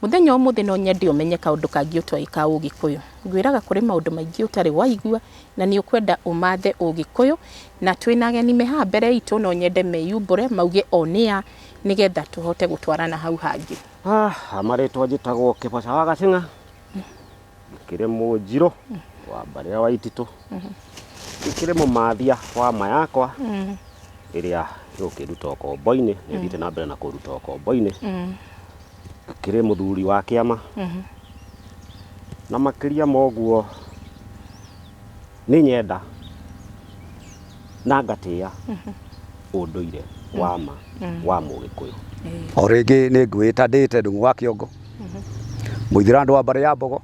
Mũthenya ũmũthĩ no nyende ũmenye kaũndũ kangĩ ũtoĩ ka Ũgĩkũyũ. Ngwĩraga kũrĩ maũndũ maingĩ ũtarĩ waigua na nĩ ũkwenda ũmathe Ũgĩkũyũ, na twĩ na ageni me haha mbere itũ no nyende meyumbũre mauge o nĩ a nĩgetha tũhote gũtwarana hau hangĩ. Marĩtwa njĩtagwo Kĩboca wa Gacĩng'a, Kĩrĩ Mũnjirũ wa mbarĩ ya Waititũ, gĩkĩrĩ Mũmathia wa ma yakwa ĩrĩa ĩgũkĩnduta ũkombo-inĩ, nĩ ĩthiĩte na mbere na kũnduta ũkombo-inĩ. Ngakĩrĩ mũthuri wa kĩama, na makĩria ma ũguo, nĩ nyenda na ngatĩa ũndũire wa ma wa mũgĩkũyũ o rĩngĩ nĩ ngwĩta ndĩte ndung'u wa kĩongo mũithira andũ wa mbarĩ ya mbogo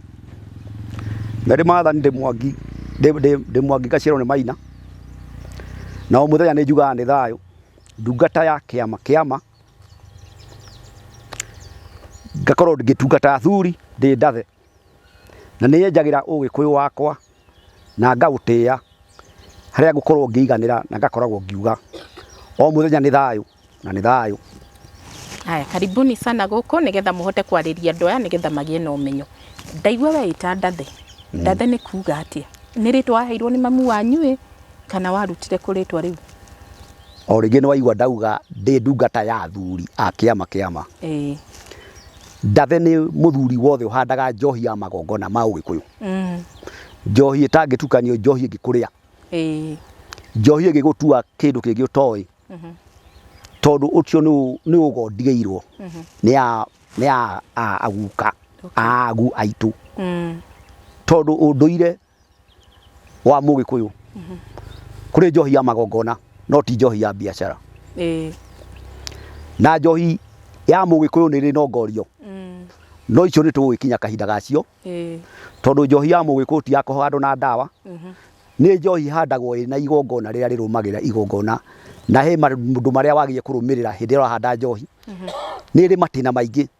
na ndĩ mathani ndĩ mwangi ndĩ- ndĩ- ndĩ mwangi ngaciarwo nĩ maina na o mũthenya nĩ njugaga nĩ thayũ ndungata ya kĩama kĩama ngakorwo ngĩtungata athuri ndĩ ndathe Na nĩyenjagĩra ũgĩkũyũ wakwa na ngaũtĩa, harĩa ngũkorwo ngĩiganĩra na ngakoragwo ngiuga, o mũthenya nĩ thayũ na nĩ thayũ. Haya, karibuni sana gũkũ nĩgetha mũhote kwarĩria andũ aya nĩgetha magĩe na ũmenyo. Ndaigua weĩta Ndathe, Ndathe nĩ kuuga atĩa? Nĩ rĩtwa waheirwo nĩ mamu wanyu ĩ, kana warutire kũ rĩtwa rĩu? O rĩngĩ nĩwaigua ndauga ndĩ ndungata ya athuri a kĩama kĩama. Ĩĩ. Ndave nĩ mũthuri wothe ũhandaga njohi ya magongona ma Ũgĩkũyũ. Mm. Njohi ĩtangĩtukanio, njohi ĩngĩkũrĩa, Ĩĩ. njohi ĩngĩgũtua kĩndũ kĩngĩ ũtoĩ, Mhm. tondũ ũcio nĩ ũ- nĩ ũgo ndigĩirwo Mhm. nĩ ya- nĩ ya a- aguka Okay. aagu aitũ, Mm. tondũ ũndũire wa mũgĩkũyũ kũrĩ njohi ya magongona no ti njohi ya biacara ĩĩ na njohi ya mũgĩkũyũ nĩ rĩ nongorio mm, no icio nĩ tũgũgĩkinya kahinda gacio ĩĩ tondũ njohi ya mũgĩkũyũ ti ya kũhandwo na ndawa mhm, nĩ njohi ihandagwo ĩna igongona rĩrĩa rĩrũmagĩrĩra igongona na he maũndũ marĩa wagĩrĩire kũrũmĩrĩra hĩndĩ ĩrĩa ũrahanda njohi nĩ ĩrĩ matĩna maingĩ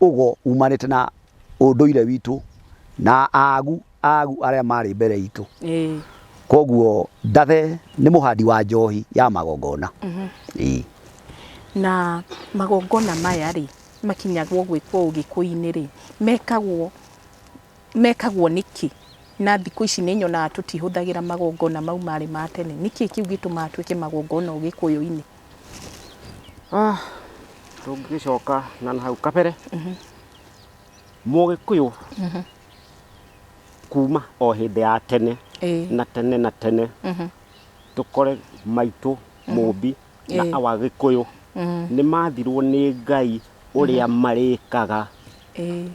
ũgo umanĩte na ũndũire witũ na agu agu arĩa marĩ mbere itũ Ĩĩ. koguo ndathe nĩ mũhandi wa njohi ya magongona Ĩĩ. na magongona maya rĩ makinyagwo gwĩkwo ũgĩkũinĩ rĩ mekagwo mekagwo nĩkĩ na thikũ ici nĩ nyonaga tũtihũthagĩra magongona mau marĩ ma tene nĩkĩ kĩu gĩtũmaga twĩke magongona ũgĩkũyũ-inĩ Ah, tũngĩgĩcoka na na hau kabere mũgĩkũyũ kuma o hĩndĩ ya tene Ĩĩ. na tene na tene tũkore maitũ mũmbi na Ĩĩ. awa gĩkũyũ nĩ mathirwo nĩ ngai ũrĩa marĩkaga Ĩĩ.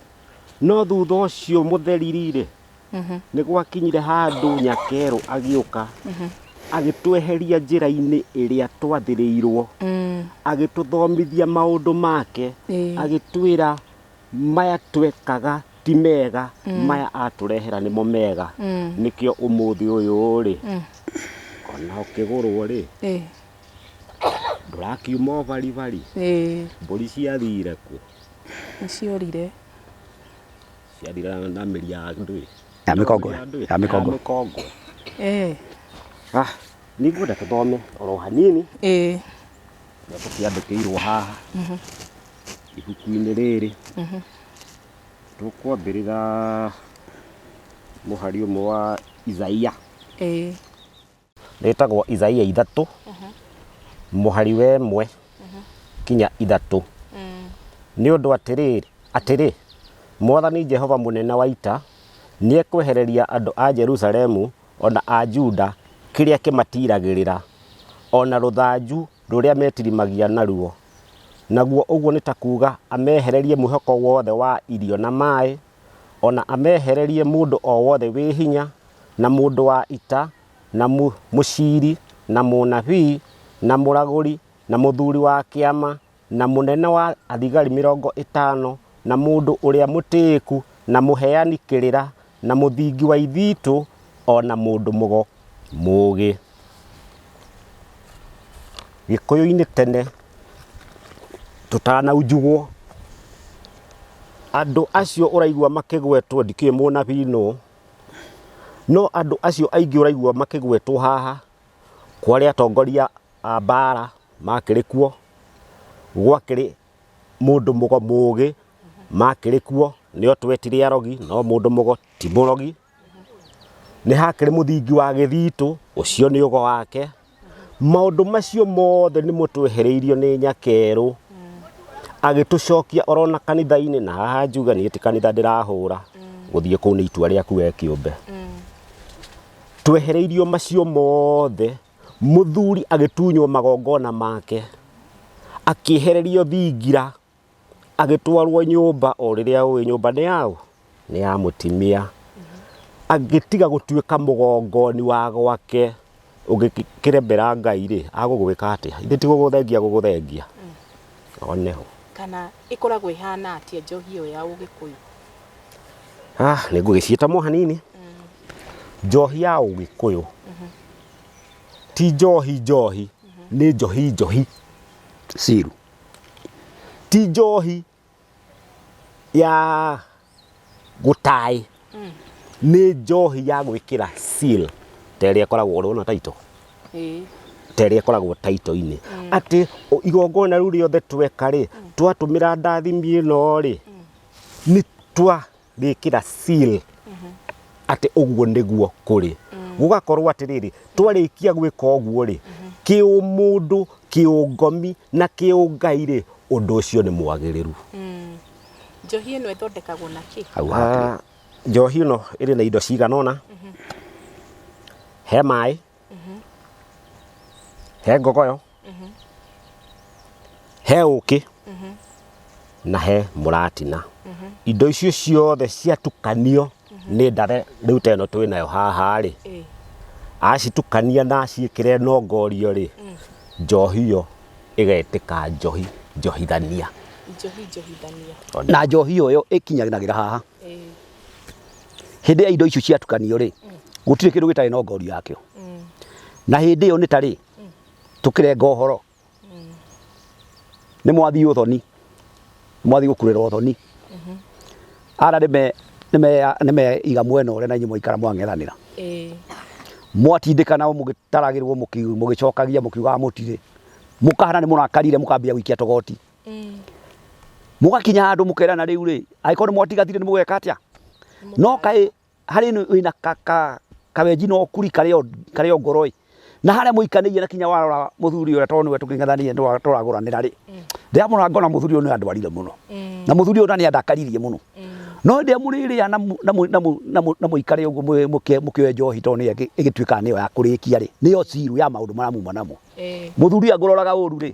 no thutha ũcio mũtheriri-rĩ nĩ gwakinyire handũ nyakerũ agĩũka agĩtweheria njĩra-inĩ ĩrĩa twathĩrĩirwo agĩtũthomithia maũndũ make Ĩĩ. agĩtwĩra maya twekaga ti mega maya atũrehera nĩmo mega nĩkĩo ũmũthĩ ũyũ rĩ ona ũkĩgũrwo rĩ Ĩĩ. ndũrakiuma ũbaribari Ĩĩ. mbũri ciathire kũ Nĩ ciorire. Yathira na mĩri ya ndũĩ. Ya mĩkongo. Ya ndũĩ. Ya mĩkongo. Ya mĩkongo. Eh. Ah, nĩ ngwenda tũthome oro hanini. Eh. Na tũkĩandĩkĩirwo haha. Mhm. Ibuku-inĩ rĩrĩ. Mhm. Tũkwambĩrĩra mũhari ũmwe wa Isaia. Eh. rĩtagwo Isaia ithatũ mũhari wa ĩmwe kinya ithatũ nĩ ũndũ atĩrĩrĩ atĩrĩ mwathani jehova mũnene wa ita nĩekwehereria andũ a jerusalemu o na a juda kĩrĩa kĩmatiragĩrĩra o na rũthanju rũrĩa metirimagia naruo naguo ũguo nĩ ta kuuga amehererie mwĩhoko wothe wa irio na maĩ o na amehererie mũndũ o wothe wĩ hinya, na mũndũ wa ita, na mũciiri, na mũnabii, na mũragũri, na mũthuuri wa kĩama, na mũnene wa thigari mĩrongo ĩtaano, na mũndũ ũrĩa mũtĩĩku, na mũheani kĩrĩra, na mũthingi wa ithiitũ, o na mũndũ mũgo. Mũgĩ. Gĩkũyũ-inĩ tene tũtanaunjugwo, andũ acio ũraigua makĩgwetwo ndikĩũĩ mũnabii nũ, no andũ acio aingĩ ũraigua makĩgwetwo haha kwarĩ atongoria a mbara makĩrĩ kuo, gwakĩrĩ mũndũ mũgo mũgĩ makĩrĩ kuo, nĩo twetire arogi, no mũndũ mũgo ti mũrogi. Nĩ hakĩrĩ mũthingi wa gĩthitũ, ũcio nĩ ugo wake. Maũndũ macio mothe nĩ mo twehereirio nĩ nyakerũ, agĩtũcokia o ro na kanitha-inĩ, na haha njuge niĩ ti kanitha ndĩrahũra, gũthiĩ kũu nĩ itua rĩaku we kĩũmbe. Twehereirio macio mothe, mũthuri agĩtunywo magongona make, akĩehererio thingira. agĩtwarwo nyũmba o rĩrĩa ũĩ nyũmba nĩ yaũ nĩ ya mũtimia angĩtiga gũtuĩka mũgongoni wa gwake ũngĩkĩremera ngai rĩ agũgwĩka atĩa ithe ti gũgũthengia agũgũthengia one ho kana ĩkoragwo ĩhana atĩa njohi ĩyo ya ũgĩkũyũ ah nĩ ngũgĩciĩta mo hanini njohi ya ũgĩkũyũ ti njohi njohi nĩ njohi njohi ciru ti njohi ya gũtaĩ nĩ njohi ya gwĩkĩra seal ta ĩrĩa ĩkoragwo ũrona taito Ĩĩ. ta ĩrĩa ĩkoragwo taito-inĩ atĩ o- igongona rĩu rĩothe tweka rĩ twatũmĩra ndathimi ĩno rĩ nĩ twa gĩkĩra seal atĩ ũguo nĩguo kũrĩ gũgakorwo atĩrĩrĩ twarĩkia gwĩka ũguo rĩ kĩũmũndũ kĩũngomi na kĩũngai rĩ ũndũ ũcio nĩ mwagĩrĩru Njohi ĩno ĩthondekagwo na kĩ? hau hatirĩ. Ah, njohi ĩno ĩrĩ na indo cigana ũna he maĩ he ngogoyo he ũkĩ na he mũratina indo icio ciothe ciatukanio nĩ ndare rĩu ta ĩno twĩ nayo haha rĩ Ĩĩ. acitukania na aciĩkĩre nongorio rĩ njohi ĩyo ĩgetĩka njohi njohithania Njohi njohithania. na njohi ĩyo ĩkinyanagĩra haha Ĩĩ. hĩndĩ ĩrĩa indo icio ciatukanio rĩ gũtirĩ kĩndũ gĩtarĩ na ngorio yakĩo na hĩndĩ ĩyo nĩ ta rĩ tũkĩrenga ũhoro nĩ mwathiĩ ũthoni mwathiĩ gũkurĩra ũthoni ara nĩmeiga mwena ũrĩa na inyuĩ mwaikara mwang'ethanĩra ĩĩ mwatindĩkana mũgĩtaragĩrwo mũki- mũgĩcokagia mũkiugaga mũtirĩ mũkahana nĩ mũrakarire mũkambia gũikia togoti mũgakinya handũ mũkerana rĩu rĩ, angĩkorwo nĩ mwatiganire nĩ mũgwĩka atĩa? No kaĩ harĩ niĩ wĩna kawenji na ũkuri karĩ o ngoro ĩ, na harĩa mũikanĩire na kinya warora mũthuri ũrĩa tondũ nĩwe tũkĩng'ethanĩire nĩwe tũragũranĩra rĩ, ndamũrora ngona mũthuri ũyũ nĩ andwarire mũno, na mũthuri ũyũ nĩ andakaririe mũno. No hĩndĩ ĩrĩa mũrĩrĩa na mũikare ũguo mũkĩoe njohi tondũ nĩyo ĩgĩtuĩkaga nĩyo ya kũrĩkia rĩ, nĩyo zero ya maũndũ marĩa muma namo. Mũthuri angĩroraga ũru rĩ,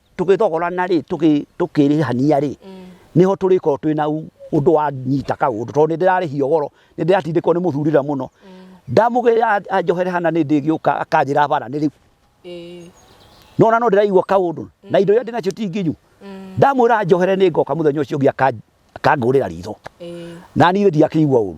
tũgĩthogorana rĩ tũkĩrĩhania rĩ mm. niho tũrĩkorwo twĩ na ũndũ wanyita kaũndũ tondũ nĩ ndĩrarĩhio goro nĩ ndĩratindĩkwo nĩ mũthurĩra mũno mm. ndamũgĩra anjohere hana nĩ ndĩgĩũka akanjĩra bara nĩ rĩu nona no ndĩraigua kaũndũ na indo iria ndĩnacio ti nginyu mm. ndamwĩra njohere nĩ ngoka mũthenya ũcio ũngĩ akangũrĩra ritho na niĩ ndiakĩigua ũru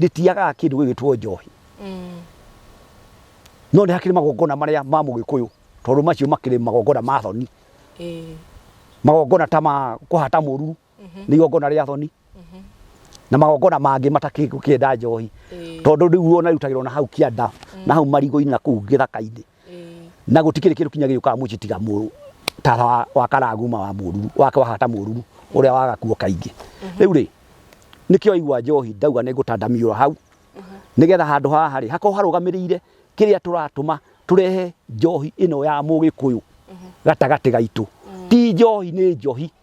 rĩtiagaga kĩndũ gĩgĩtwo njohi no nĩ hakĩrĩ magongona marĩa ma mũgĩkũyũ tondũ macio makĩrĩ magongona ma thoni magongona ta ma kũhata mũru nĩ igongona rĩa thoni na magongona mangĩ matakĩenda njohi tondũ rĩu ona rĩrutagĩrwo na hau kĩanda na hau marigũ-inĩ na kũu gĩthaka-inĩ Ĩĩ. na gũtikĩrĩ kĩndũ kinya gĩũkaga mũciĩ tiga mũrũ ta wa- wa karaguma wa mũruru wake wahata mũruru ũrĩa waga kuo kaingĩ rĩu rĩ nĩkĩo aigua njohi ndauga nĩ ngũtandamiũra hau nĩgetha handũ haha rĩ hakorwo harũgamĩrĩire kĩrĩa tũratũma tũrehe njohi ĩno ya mũgĩkũyũ gatagatĩ gaitũ ti njohi nĩ njohi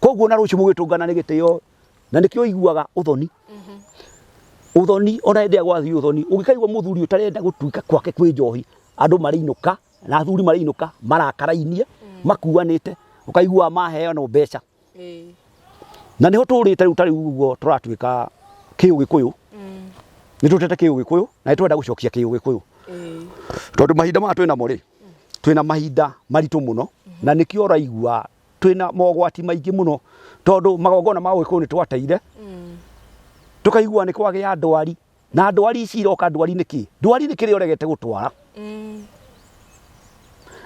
koguo na rũciũ mũgĩtũngana nĩ gĩtĩo na nĩkĩo ũiguaga ũthoni mhm. ũthoni ona hĩndĩ ya gwathiĩ ũthoni ũngĩkaigua mũthuri ũtarenda gũtuĩka kwake kwĩ njohi andũ marĩinũka na athuri marĩinũka marakarainie mm. makuanĩte ũkaigua maheanwo mbeca na nĩho tũrĩte rĩu tarĩu ũguo tũratuĩka kĩũgĩkũyũ mm. nĩ tũtete kĩũgĩkũyũ na nĩ twenda gũcokia kĩũgĩkũyũ tondũ mahinda maya twĩnamo rĩ twĩna mahinda maritũ mũno na nĩkĩo ũraigua twĩna mogwati maingĩ mũno tondũ magongona ma ũgĩkũyũ nĩ twateire tũkaigua nĩ kwagĩa ndwari na ndwari ici iroka ndwari nĩ kĩ ndwari nĩ kĩrĩa ũregete gũtwara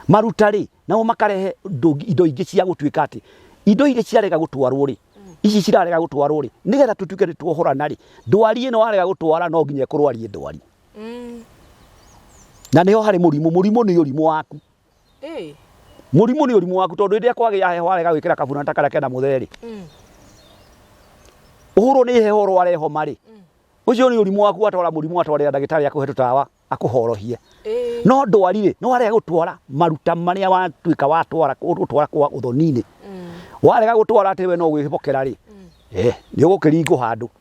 maruta rĩ nao makarehe ndũ- indo ingĩ cia gũtuĩka atĩ indo irĩ ciarega gũtwarwo rĩ ici cirarega gũtwarwo rĩ nĩgetha tũtuĩke nĩ tuohorana rĩ ndwari ĩno warega gũtwara no nginya ĩkũrwarie ndwari Mm. na nĩho harĩ mũrimũ mũrimũ nĩ ũrimũ waku Ĩ. mũrimũ nĩ ũrimũ waku tondũ rĩrĩa kwagĩa heho warega gwĩkĩra kabura ta karĩa kena mũtherĩ Mm. ũhũrwo nĩ heho ũrware homa rĩ Mm. ũcio nĩ ũrimũ waku watwara mũrimũ watwarĩra ndagĩtarĩ akũhe tũtawa akũhorohie Ĩ. no ndwari rĩ no warega gũtwara maruta marĩa watuĩka watwara gũtwara kwa ũthoni-inĩ Mm. warega gũtwara atĩ we no gwĩbokera rĩ Mm. eh, nĩ ũgũkĩringwo handũ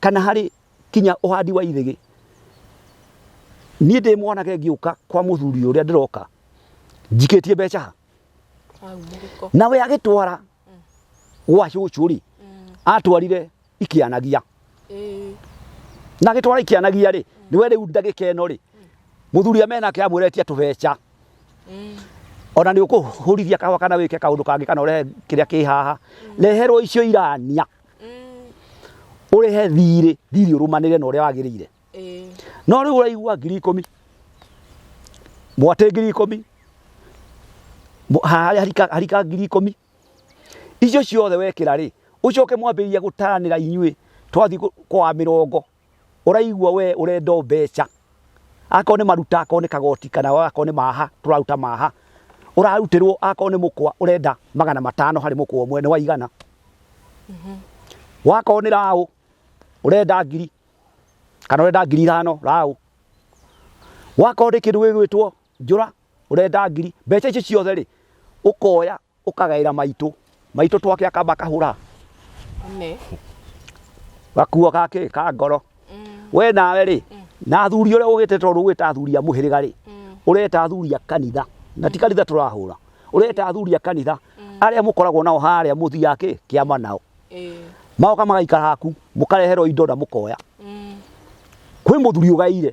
kana harĩ kinya ũhandi wa ithĩgĩ, niĩ ndĩ mwanake ngĩũka kwa mũthuri ũrĩa ndĩroka njikĩtie mbeca ha? nawe agĩtwara gwa cũcũ rĩ atwarire ikĩanagia na agĩtwara ikĩanagia rĩ niwe rĩu ndagĩka ĩno rĩ mũthuri amenake amwĩra etia tũbeca ona nä å kå hå rithia kahwa kana wä ke kaå ndå kangä kana å rehe kä rä a kä haha reherwo icio irania ũrĩhe thirĩ thirĩ ũrũmanĩre na ũrĩa wagĩrĩire no rĩu ũraigua ngiri ikũmi mwatĩ ngiri ikũmi mũ- harĩa harika- harika ngiri ikũmi icio ciothe wekĩra rĩ ũcoke mwambĩrĩria gũtaranĩra inyuĩ twathiĩ kũ- kwa mĩrongo ũraigua we ũrenda mbeca akorwo nĩ maruta akorwo nĩ kagoti kana akorwo nĩ maha tũraruta maha ũrarutĩrwo akorwo nĩ mũkwa ũrenda magana matano harĩ mũkwa ũmwe nĩ waigana wakorwo nĩ raũ ũrenda ngiri kana ũrenda ngiri ithano raũ wakorwo nĩ kĩndũ gĩgwĩtwo njũra ũrenda ngiri mbeca icio ciothe rĩ ũkoya ukagaira maitu maitu twake akamba kahura Amen. gakuo gake ka ngoro Mm. we nawe rĩ na athuri ũrĩa ũgĩte tondũ ũgĩta athuri a mũhĩrĩga rĩ Mm. ũreta athuri a kanitha na ti kanitha tũrahũra ũreta athuri a kanitha arĩa mũkoragwo nao harĩa mũthia kĩ kĩama nao Eh. maoka magaikara haku mũkareherwo indo na mũkoya Mm. kwĩ mũthuri ũgaire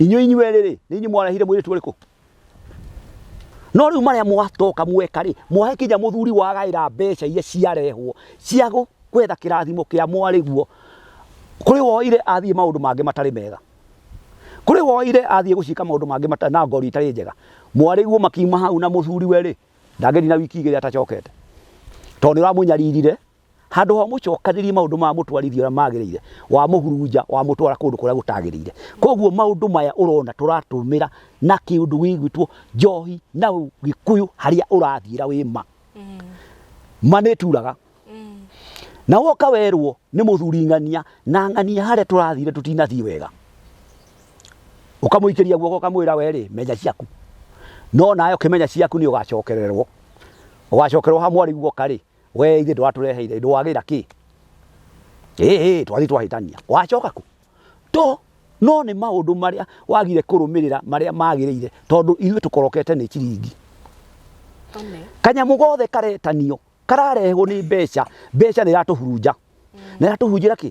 inyuĩ inyuĩ rĩrĩ nĩ inyuĩ mwarehire mwĩrĩtu ũrĩkũ no rĩu marĩa mwatoka mweka rĩ mwahe kinya mũthuri wagaĩra mbeca iria ciarehwo cia gũ- gwetha kĩrathimo kĩa mwarĩguo kũrĩ woire athiĩ maũndũ mangĩ matarĩ mega kũrĩ woire athiĩ gũcika maũndũ mangĩ mata- na ngori itarĩ njega mwarĩguo makiuma hau na mũthuri we rĩ ndangĩthina wiki igĩrĩ atacokete tondũ nĩ ũramũnyaririre handå ha mũcokanĩrie maũndũ ma mũtwarithia ũrĩa magĩrĩire wa mũhurunja wa mũtwara kũndũ kũrĩa gũtagĩrĩire koguo maũndũ maya ũrona tũratũmĩra na kĩũndũ gĩgwĩtwo njohi na gĩkũyũ harĩa ũrathiĩra wĩ ma ma nĩ turaga na woka werwo nĩ mũthuri ng'ania na ng'ania harĩa tũrathire tũtinathiĩ wega ũkamũikĩria guoko ũkamwĩra werĩ menya ciaku no nawe ũkĩmenya ciaku nĩ ũgacokererwo ũgacokerwo ha mwarĩ guoka rĩ We ithe ndwatũreheire ndwagĩra kĩ ĩĩ twathi twahĩtania wacoka kũ to no nĩ maũndũ marĩa wagire kũrũmĩrĩra marĩa magĩrĩire tondũ ithuĩ tũkorokete nĩ ciringi kanyamũ gothe karetanio kararehwo nĩ mbeca mbeca nĩ iratũhurunja na iratũhunjĩra kĩ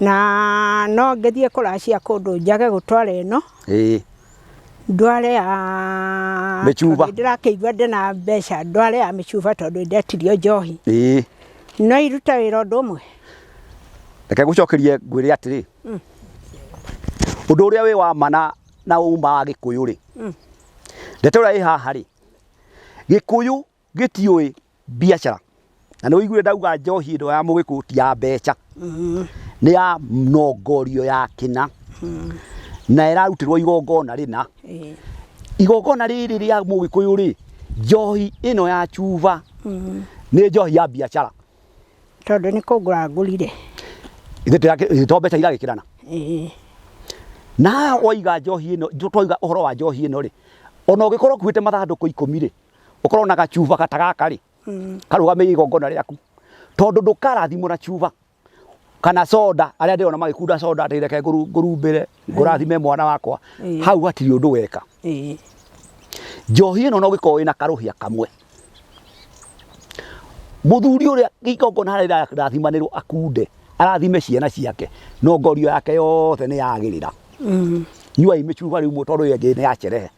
Na no ngĩthiĩ kũracia kũndũ njage gũtwara ĩno, ĩĩ ndware ya... Mĩcuba. tondũ Ndĩrakĩigua ndĩ na mbeca, ndware ya mĩcuba tondũ ndetirio njohi. ĩĩ No irute wĩra ũndũ ũmwe? reke ngũcokerie ngwĩre atĩrĩ ũndũ ũrĩa wĩ wa ma na na uma wa gĩkũyũ rĩ ndeto ĩrĩa ĩ haha rĩ gĩkũyũ Gĩtiũĩ biacara. Na nĩ ũiguire ndauga njohi ĩno ya mũgĩkũ ti ya mbeca. Nĩ ya nongorio ya kĩna. Na ĩrarutĩrwo igongona rĩna. Ĩĩ. Igongona rĩrĩ rĩa mũgĩkũyũ rĩ, njohi ĩno ya cuba nĩ njohi ya biacara. Tondũ nĩ kũgũra ngũrire. Ithuĩ tũrĩa kĩ- to mbeca iragĩkĩrana. Ĩĩ. Na waiga njohi ĩno, tũ- twaiga ũhoro wa njohi ĩno rĩ, ona ũngĩkorwo ũkuĩte mathandũkũ ikũmi rĩ, ukorwo na gacuba gata gaka ri mm. karugamiire igongona riaku tondu ndukarathimwo na cuba kana soda aria ndirona magikunda soda ati reke ngurumbire ngurathime mwana wakwa hau hatiri undu weka njohi ino no gikorwo ina karuhia kamwe muthuri uria igongona haria irathimanirwo akunde arathime ciana ciake no ngorio yake yothe ni yagirira mm. nyuai micuba riu tondu iyo ingi ni ya cerehe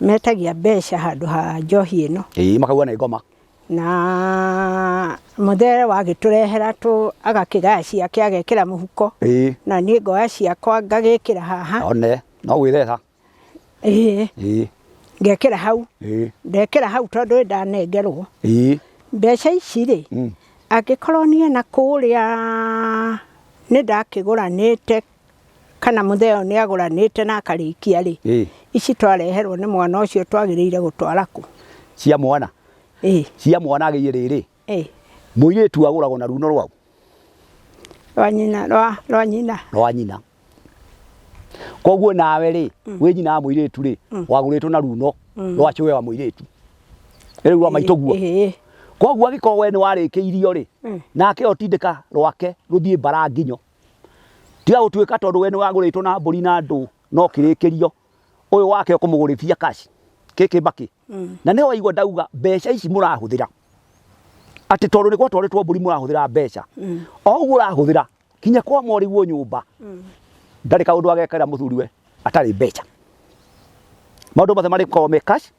metagia mbeca handũ ha njohi ĩno ĩĩ makauga nĩ ngoma na mũthere wagĩtũrehera tũ agakĩgaya ciake agekĩra mũhuko ĩĩ na niĩ ngoya ciakwa ngagĩkĩra haha one no gwĩtheca ĩĩ ĩĩ ngekĩra hau ĩĩ ndekĩra hau tondũ nĩ ndanengerwo ĩĩ mbeca ici rĩ Mm. angĩkorwo niĩ na kũrĩa nĩ ndakĩgũranĩte kana mũtheo nĩ agũranĩte na akarĩkia-rĩ, Ĩĩ. ici twareherwo nĩ mwana ũcio twagĩrĩire gũtwara kũ? cia mwana Ĩĩ, cia mwana agĩire rĩrĩ ĩĩ, mũirĩtu agũragwo na runo rwau rwa nyina, rwa, rwa nyina. rwa nyina koguo nawe rĩ wĩ nyina wa mũirĩtu rĩ wagũrĩtwo na runo rwa cũwe wa mũirĩtu rĩu rwa maitũ guo Ĩĩ, koguo angĩkorwo we nĩ warĩkĩirio rĩ Mm. nake otindĩka rwake rũthiĩ mbara nginyo tiga gũtuĩka tondũ we nĩ wagũrĩtwo na mbũri na ndũ no kĩrĩkĩrio ũyũ wake ũkũmũgũrĩthia kaci kĩkĩ mbakĩ mm. na nĩ waigua ndauga mbeca ici mũrahũthĩra atĩ tondũ nĩ gwatwarĩtwo mbũri mũrahũthĩra mbeca mm. o ũguo ũrahũthĩra kinya kwa mwarĩguo nyũmba mm. ndarĩ kaũndũ agekera mũthuriwe atarĩ mbeca maũndũ mothe marĩkorwo me cash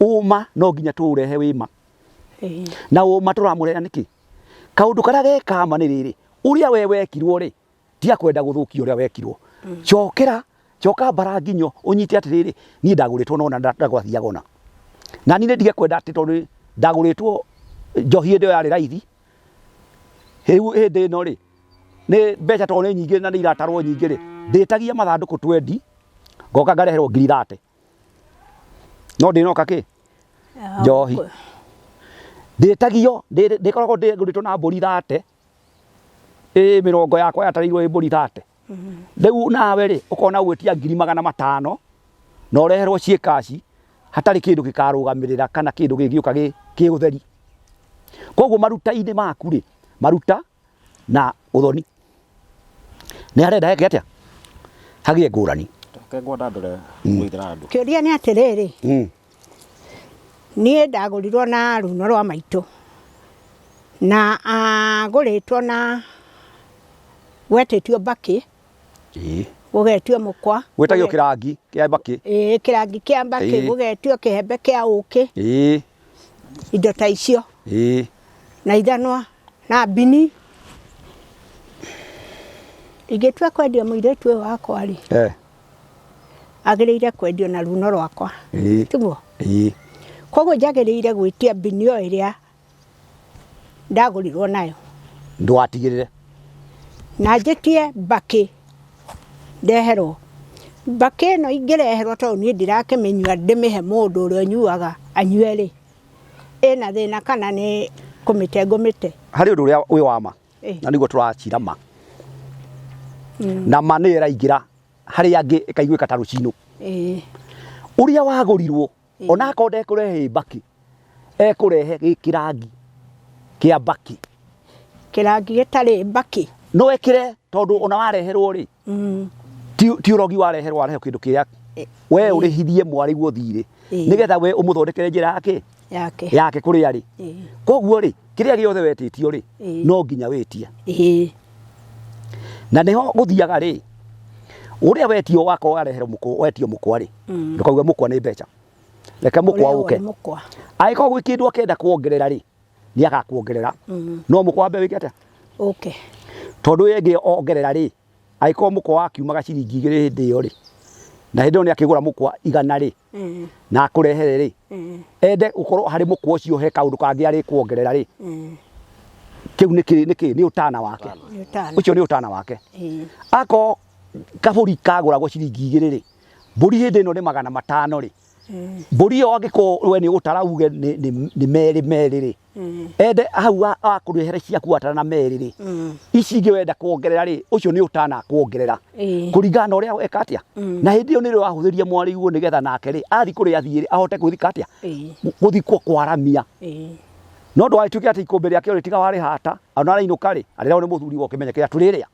ũma no nginya tũũrehe wĩma Ĩĩ. na ũma tũramũrehera nĩkĩ kaũndũ karĩa gekama nĩ rĩrĩ ũrĩa we wekirwo rĩ tiga kwenda gũthũkia ũrĩa wekirwo cokera coka mbara nginyo ũnyite atĩrĩrĩ niĩ ndagũrĩtwo nona ndagwathiaga ona na niĩ nĩndige kwenda atĩ tondũ ndagũrĩtwo njohi hĩndĩ ĩyo yarĩ raithi rĩu hĩndĩ ĩno rĩ nĩ mbeca tondũ nĩ nyingĩ na nĩ iratarwo nyingĩ rĩ ndĩtagia mathandũkũ twendi ngoka ngareherwo ngiri thate no ndĩnoka kĩ njohi ndĩtagio ndĩkoragwo ndĩgũrĩtwo na mbũri thate ĩ mĩrongo yakwa yatarĩirwo ĩ mbũri thate rĩu nawe rĩ ũkona ũgwĩtia ngiri magana matano na ũreherwo ciĩ kaci hatarĩ kĩndũ gĩkarũgamĩrĩra kana kĩndũ gĩgĩũka gĩ ũtheri, koguo maruta-inĩ maku rĩ maruta. na ũthoni nĩ harenda heke atĩa hagĩe ngũrani Reke ngwenda ndore ngũithĩra andũ. Kĩũria nĩ atĩrĩrĩ, Mm. niĩ ndagũrirwo na runo rwa maitũ na agũrĩtwo na gwetĩtio mbakĩ Ĩĩ. gũgetio mũkwa Gwĩtagio kĩrangi kĩa mbakĩ. ĩĩ kĩrangi kĩa mbakĩ Ĩĩ. gũgetio kĩhembe kĩa ũkĩ Ĩĩ. indo ta icio Ĩĩ. na ithanwa na mbini ingĩtua kwendia mũirĩtu ũyũ wakwa rĩ Eh. agĩrĩire kwendio na runo rwakwa Ĩĩ. tiguo Ĩĩ. koguo njagĩrĩire gwĩtia mbini o ĩrĩa ndagũrirwo nayo ndwatigĩrĩre na njĩtie mbakĩ ndeherwo mbakĩ ĩno ingĩreherwo tondũ niĩ ndirakĩmĩnyua ndĩmĩhe mũndũ ũrĩa ũnyuaga anyue rĩ ĩna thĩna kana nĩ kũmĩte ngũmĩte harĩ ũndũ ũrĩa wĩ wa ma Ĩ. na nĩguo tũracira ma na ma nĩ ĩraingĩra harĩ angĩ ĩkaiguĩka ta rũcinũ Ĩ, ũrĩa wagũrirwo ona akorwo ndekũrehe mbaki ekũrehe gĩ kĩrangi kĩa mbaki kĩrangi gĩtarĩ mbaki no ekĩre tondũ ona wareherwo rĩ mm. ti ti ũrogi wareherwo wareherwo kĩndũ kĩrĩa Ĩ- we ũrĩhithie mwarĩguo thiirĩ Ĩ. nĩgetha we ũmũthondekere njĩra yake yake yake kũrĩa arĩ Ĩ, koguo rĩ kĩrĩa gĩothe wetĩtio rĩ Ĩ. no nginya wĩtie ĩ, na nĩho gũthiaga rĩ ũrĩa wetio wakorwo wareherwo mũkũ wetio mũkwa rĩ ndũkauga mũkwa nĩ mbeca reke mũkwa ũke angĩkorwo gwĩ kĩndũ akenda kuongerera rĩ nĩ agakuongerera mm. no mũkwa wambe wĩke atĩa okay. tondũ ĩyo ĩngĩ ongerera rĩ angĩkorwo mũkwa wakiumaga ciringi igĩrĩ hĩndĩ ĩyo rĩ na hĩndĩ ĩyo nĩ akĩgũra mũkwa igana rĩ mm. na akũrehere rĩ mm. ende gũkorwo harĩ mũkwa ũcio he kaũndũ kangĩ arĩ kuongerera rĩ kĩu nĩ kĩĩ nĩ kĩĩ nĩ ũtana wake ũcio nĩ ũtana wake ako kabũri kagũragwo ciringi igĩrĩ rĩ Mbũri hĩndĩ ĩno nĩ magana matano rĩ, mbũri ĩyo angĩkorwo we nĩ ũgũtara uge nĩ, nĩ, nĩ merĩ merĩ rĩ, ende hau a- akũrehere ciaku watara na merĩ rĩ, ici ingĩ wenda kuongerera rĩ, ũcio nĩ ũtana akuongerera Ĩĩ. kũringana na ũrĩa weka atĩa na hĩndĩ ĩyo nĩrĩo wahũthĩria mwarĩguo nĩgetha nake rĩ athiĩ kũrĩa athiĩ rĩ ahote kwĩthika atĩa Ĩĩ. gũthiĩ kwa- kwaramia Ĩĩ. no ndũgagĩtuĩke atĩ ikũmbĩ rĩake rĩ tiga warĩhata ona arainũka rĩ arĩrehwo nĩ mũthuri ũkĩmenye kĩrĩa tũrĩrĩa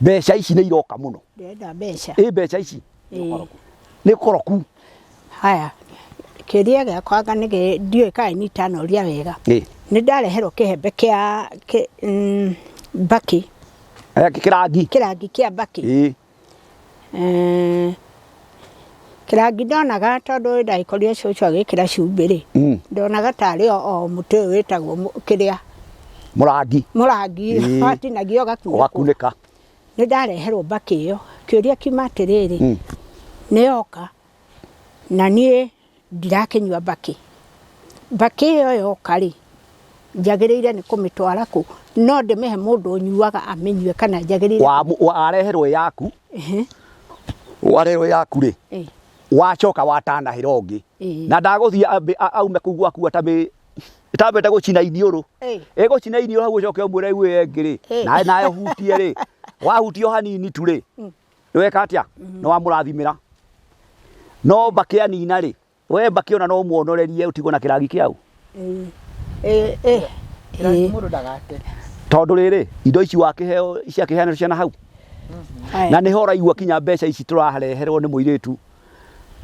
mbeca ici nĩ iroka mũno ndĩrenda mbeca ĩ mbeca ici Ĩĩ. nĩ koroku haya kĩria gĩakwanga nĩ gĩ- ndiũĩ kaĩ nitanoria wega ĩ nĩ ndareherwo kĩhembe kĩa kĩ- mm, mbakĩ aya kĩrangi kĩrangi kĩa mbakĩ ĩ Kĩrangi ndonaga tondũ hĩndĩ ĩrĩa ndagĩkorire cũcũ agĩkĩra cumbĩ rĩ, ndonaga tarĩ o mũtĩ ũyũ wĩtagwo kĩrĩa, mũrangi, mũrangi watinagia ũgakunĩkwo. Nĩ ndareherwo mbakĩ ĩyo, kĩũria kiuma atĩrĩrĩ, nĩ yoka na niĩ Ndirakĩnyua mbakĩ. Mbakĩ ĩyo yoka-rĩ, njagĩrĩire nĩ kũmĩtwara kũ? No ndĩmĩhe mũndũ ũnyuaga amĩnyue kana njagĩrĩire. Wareherwo ĩ yaku, wareherwo ĩ yaku-rĩ, wacoka watanahĩra ũngĩ, na ndagũthiĩ ambe aume kũu gwaku atambĩte gũcina iniũrũ, egũcina iniũrũ hau ũcoke ũmwĩre rĩu ĩyo ĩngĩ-rĩ, nawe nawe ũhutie-rĩ, wahutia o hanini tu-rĩ, nĩweka atĩa nĩ wamũrathimĩra no mbakĩ anina rĩ we mbakĩ ona no muonorerie ũtigwo na kĩrangi kĩau Eh, eh, eh. Kĩrangi Eh, mũndũ ndagate. tondũ rĩrĩ indo ici wakĩheo ciakĩheanĩrwo ciana hau aya. na nĩ ho ũraigua kinya mbeca ici tũrareherwo nĩ mũirĩtu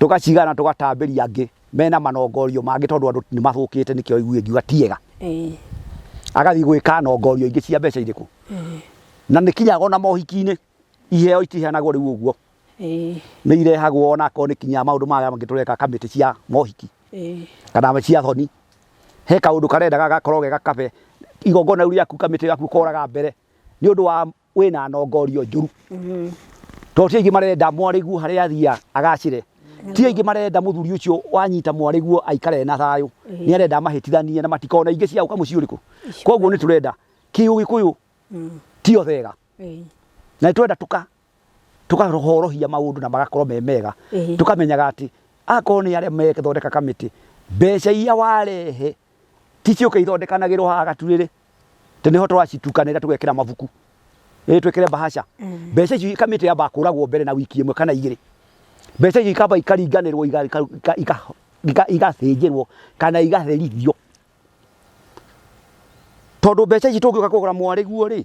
tũgacigana tũgatambĩria angĩ mena manongorio mangĩ tondũ andũ nĩ mathũkĩte nĩkĩo igue ngiuga tiega Eh, agathiĩ gwĩka nongorio ingĩ cia mbeca irĩkũ na nĩ kinyaga ona mohiki-inĩ iheo itiheanagwo rĩu ũguo ĩĩ nĩ irehagwo ona akorwo nĩ kinya maũndũ maya mangĩ tũreka kamĩtĩ cia mohiki ĩĩ kana cia thoni he kaũndũ karenda gagakorwo ge gakabe igongona rĩu rĩaku kamĩtĩ gaku ũkoraga mbere nĩ ũndũ wa wĩna nongorio njũru Mm. tondũ ti aingĩ marenda mwarĩguo harĩa athiaga agacĩre ti aingĩ marenda mũthuri ũcio wanyita mwarĩguo aikare na thayũ Ĩĩ. nĩ arenda amahĩtithanie na matikona ingĩ cia gũka mũciĩ ũrĩkũ koguo nĩ tũrenda kĩũgĩkũyũ Mm. ti othega na nĩ twenda tũkahorohia maũndũ na magakorwo me mega tũkamenyaga atĩ akorwo nĩ arĩa marathondeka kamĩtĩ mbeca iria warehe ti cioke ithondekanagĩrwo haha gaturĩrĩ atĩ nĩho twacitukanĩra tũgekĩra mabuku ĩĩ twĩkĩre bahaca mbeca icio kamĩtĩ yambaga kũragwo mbere na wiki ĩmwe kana igĩrĩ mbeca icio ikamba ikaringanĩrwo igathĩnjĩrwo kana igatherithio tondũ mbeca ici tũngĩũka kũgũra mwarĩguo rĩ.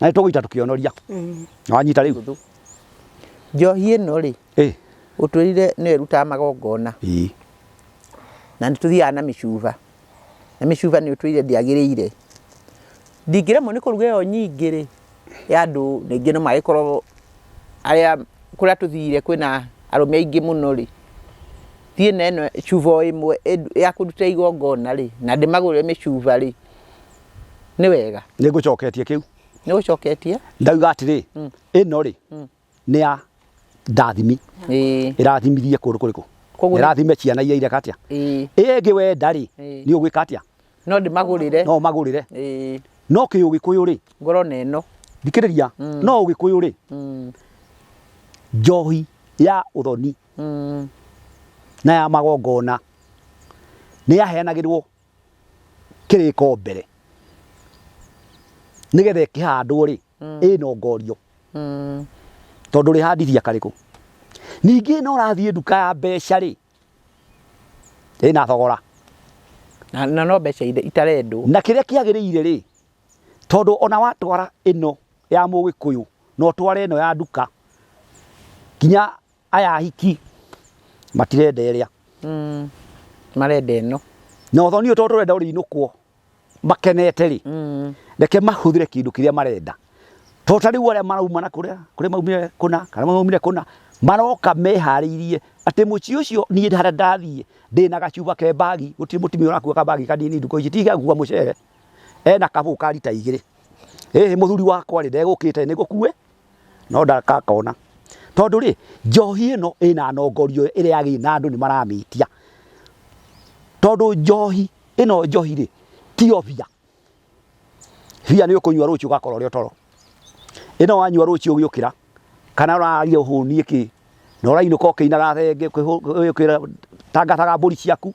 na nä tå gå ita tå kä onoria wanyita rä u njohi ĩno rĩ Ĩ, ũtwĩrire nĩyo ĩrutaga magongona ĩ. na nĩ tũthiaga na mĩcuba na mĩcuba nĩ ũtwĩrire ndĩagĩrĩire ndingĩremwo nĩ kũruga ĩyo nyingĩ rĩ ya andũ ningĩ no magĩkorwo arĩa kũrĩa tũthire kwĩna arũme aingĩ mũno rĩ thiĩ na ĩno cuba o ĩmwe ĩndu- ya kũruta igongona rĩ na ndĩmagũrĩre mĩcuba rĩ nĩ wega nĩ ngũcoketie kĩu nĩ ũcoketie ndauga atĩrĩ ĩno rĩ nĩ ya ndathimi ĩĩ ĩrathimithie kũndũ kũrĩkũ Koguo nĩ- ĩrathime ciana iria ireka atĩa ĩĩ ĩĩ ĩngĩ wenda rĩ Ĩĩ. nĩ ũgwĩka atĩa no ndĩmagũrĩre no magũrĩre ĩĩ no kĩ ũgĩkũyũ rĩ ngoro na ĩno thikĩrĩria no ũgĩkũyũ rĩ Mm, njohi ya ũthoni mm, na ya magongona nĩ yaheanagĩrwo kĩrĩko mbere nĩgetha ĩkĩhandwo rĩ ĩnongorio tondũ rĩhandithia karĩkũ ningĩ no ũrathiĩ nduka ya mbeca rĩ ĩna thogora na na no mbeca ire- itarendwo na kĩrĩa kĩagĩrĩire rĩ tondũ ona watwara ĩno ya mũgĩkũyũ na ũtware ĩno ya nduka nginya aya ahiki matirenda ĩrĩa Mm. marenda ĩno na ũthoni ũyũ tondũ tũrenda ũrĩinũkwo makenete rĩ Mm. reke mahũthĩre kĩndũ kĩrĩa marenda tondũ ta rĩu arĩa marauma na kũrĩa kũrĩa maumire kũna kana maumire kũna maroka meharĩirie atĩ mũciĩ ũcio niĩ harĩa ndathiĩ ndĩ na gacuba ke mbagi gũtirĩ mũtumia ũrakua kambagi kanini nduka ici tiga gũkua mũcere ena kabũ ka rita igĩrĩ ĩhĩ mũthuri wakwa rĩ ndegũkĩte nĩ gũkue no ndakakona tondũ rĩ njohi ĩno ĩna nongorio ĩrĩa yagĩrĩire na andũ nĩ maramĩtia tondũ njohi ĩno njohi rĩ tiyo bia bia nĩ ũkũnyua rũciũ ũgakorwo ũrĩ toro ĩno wanyua rũciũ ũgĩũkĩra kana ũraria ũhũnie kĩ na ũrainũka ũkĩinaga thenge ũkĩra tangataga mbũri ciaku.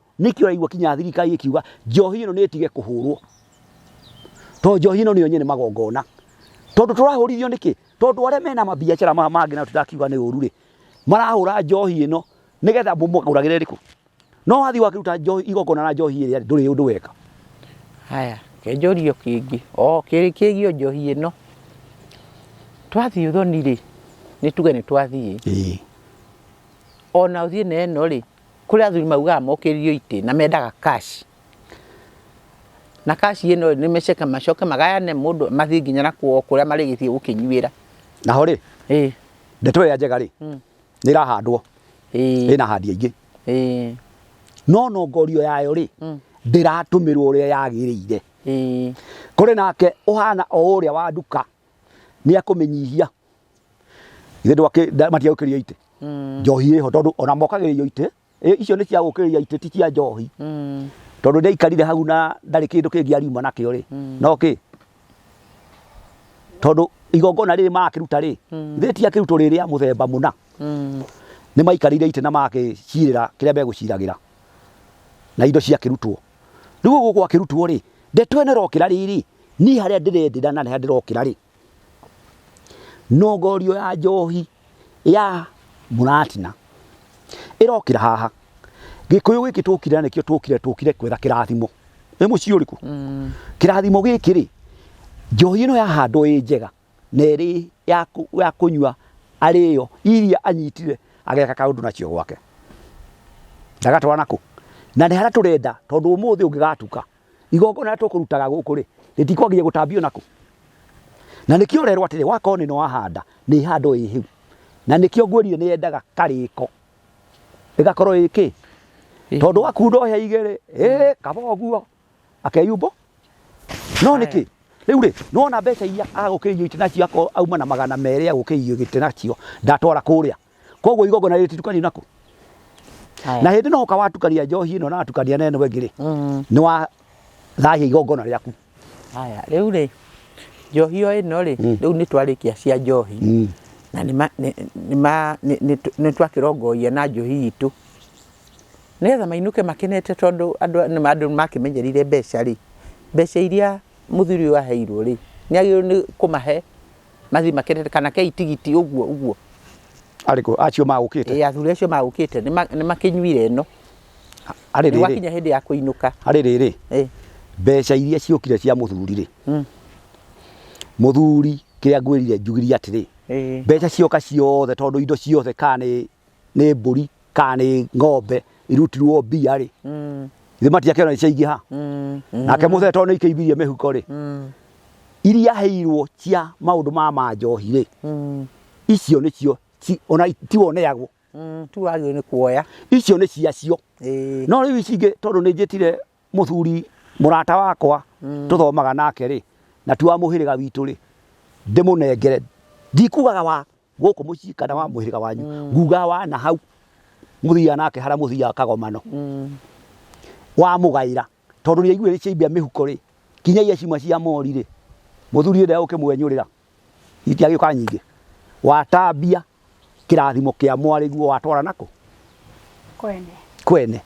nĩkĩ ũraigua kinya thirikari ĩkiuga njohi ĩno nĩ ĩtige kũhũrwo tondũ njohi ĩno nĩyo nyene magongona tondũ tũrahũrithio nĩkĩ tondũ arĩa mena mabiacara maya mangĩ na tũtakiuga nĩ ũru rĩ marahũra njohi ĩno nĩgetha mũmagũragĩre rĩkũ no wathiĩ wakĩruta njohi igongona na njohi ĩrĩa ndũrĩ ũndũ weka haya kenjorio kĩngĩ o kĩrĩ kĩgio njohi ĩno twathiĩ ũthoni rĩ nĩ tuge nĩ twathiĩ ona ũthiĩ na ĩno rĩ Kũrĩ athuri maugaga mokĩririo itĩ na mendaga cash. Na cash ĩno nĩ meceke macoke magayane mũndũ mathiĩ nginya na kwao kũrĩa marĩgĩthiĩ gũkĩnyuĩra. Naho rĩ, Ĩĩ. ndeto ĩrĩa njega rĩ, nĩ ĩrahandwo, Ĩĩ. ĩna ahandi aingĩ. Ĩĩ. No nongorio yayo rĩ, ndĩratũmĩrwo ũrĩa yagĩrĩire. Ĩĩ. Kũrĩ nake ũhana o ũrĩa wa nduka, nĩ ekũmĩnyihia. ithe matigaũkĩria itĩ mm. njohi ĩho tondũ ona mokagĩrĩrio itĩ icio nĩ cia gũkĩrĩria itĩ ti cia njohi mm. tondũ nĩ aikarire hau na ndarĩ kĩndũ kĩngĩ ariuma nakĩo rĩ mm. no kĩ tondũ igongona rĩrĩ marakĩruta rĩ ithe ti akĩrutwo rĩrĩ a mũthemba mũna nĩ maikarĩire itĩ na magakĩcirĩra kĩrĩa megũciragĩra na indo ciakĩrutwo rĩu gũkũ akĩrutwo rĩ ndeto ĩno ĩrokĩra rĩrĩ niĩ harĩa ndĩrendĩra na harĩa ndĩrokĩra rĩ Nongorio ya njohi ya mũratina ĩrokĩra haha. Gĩkũyũ gĩkĩ tũkire nakĩo tũkire tũkire kwetha kĩrathimo. Nĩ mũciĩ ũrĩkũ? Mm. Kĩrathimo gĩkĩ rĩ, njohi ĩno yahandwo ĩ njega na ĩrĩ ya kũ- ya kũnyua arĩyo iria anyitire ageka kaũndũ nacio gwake. Ndagatwara nakũ? Na nĩ harĩa tũrenda tondũ ũmũthĩ ũngĩgatuka igongona rĩrĩa tũkũrutaga gũkũ rĩ rĩtikwagĩrĩria gũtambio nakũ na nĩkĩo ũrerwo atĩrĩ wakorwo nĩ wahanda nĩ ihando ĩ hĩu na nĩkĩo ngwĩrire nĩ yendaga karĩko ĩgakorwo ĩ kĩ tondũ wakunda ũhe igĩrĩ ĩ kaba ũguo akeyumbo no nĩkĩ rĩu rĩ nĩwona mbeca iria agũkĩirio itĩ nacio akorwo auma na magana merĩ agũkĩirio gĩtĩ nacio ndatwara kũrĩa koguo igongona rĩtitukanie nako Haya. na hĩndĩ no ũka watukania njohi ĩno na watukania na ĩno ĩngĩ rĩ Mm. nĩ wa thahia igongona rĩaku Haya, rĩu rĩ njohi o ĩno rĩ rĩu nĩ twarĩkia cia njohi Mm. na nĩ ma- nĩ- nĩ ma- nĩ- nĩ tw- nĩ twakĩrongoia na njohi itũ nĩgetha mainũke makenete tondũ andũ nĩ ma- andũ makĩmenyerire mbeca rĩ mbeca iria mũthuri ũyũ aheirwo rĩ nĩ agĩrĩirwo nĩ kũmahe Mathiĩ makĩrĩte kana kei tigiti ũguo ũguo. Arĩkũ acio magũkĩte? Ĩĩ athuri acio magũkĩte nĩ makĩnyuire ĩno. Harĩ rĩrĩ. Gwakinya hĩndĩ ya kũinũka. Harĩ rĩrĩ. Ĩĩ. Mbeca iria ciokire cia mũthuri rĩ. Mm. Mũthuri kĩrĩa ngwĩrire njugirie atĩrĩ. Ĩĩ. Mbeca cioka ciothe tondũ indo ciothe kana nĩ nĩ mbũri kana nĩ ng'ombe irutirwo mbia rĩ githĩ matiakĩona nĩciaingĩha nake mũthee tondũ nĩikĩimbirie mĩhuko rĩ iria aheirwo cia maũndũ ma ma njohi rĩ icio nĩcio ci- ona tiwoneagwo tu wagĩrĩirwo nĩ kuoya icio nĩ ciacio Ĩĩ. no rĩu ici ingĩ tondũ nĩ njĩtire mũthuri mũrata wakwa tũthomaga nake rĩ na ti wa mũhĩrĩga witũ rĩ ndĩmũnengere ndikugaga wa gũkũ mũciĩ kana wa mũhĩrĩga wanyu nguga wa na hau mũthiaga nake harĩa mũthiaga kagomano wamũgaĩra tondũ nĩ aiguire ciaimbia mĩhuko rĩ kinyagia cima cia mori rĩ mũthuri ũrĩa ũkĩmwenyũrĩra itiagĩũka nyingĩ watambia kĩrathimo kĩa mwarĩguo watwara nako kwene kwene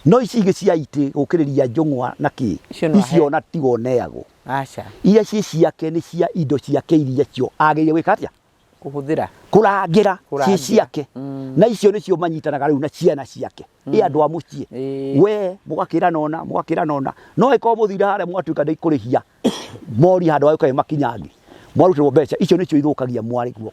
no ici ingĩ cia itĩ gũkĩrĩria njũng'wa na kĩ Icio nĩ wahe- icio ona tigoneagwo Aca. Iria ciĩ ciake nĩ cia indo ciake iria cio agĩrĩire gwĩka atĩa? Kũhũthĩra. Kũrangĩra ciĩ ciake. Mm. Na icio nĩcio manyitanaga rĩu na ciana ciake. Mm. Ĩ andũ a mũciĩ. E. We mũgakĩra nona, mũgakĩra nona. No ĩkorwo mũthira harĩa mwatuĩka ndĩkũrĩhia mori handũ ha gũkaĩ makinyangi. Mwarutirwo mbeca icio nĩcio ithũkagia mwarĩ guo.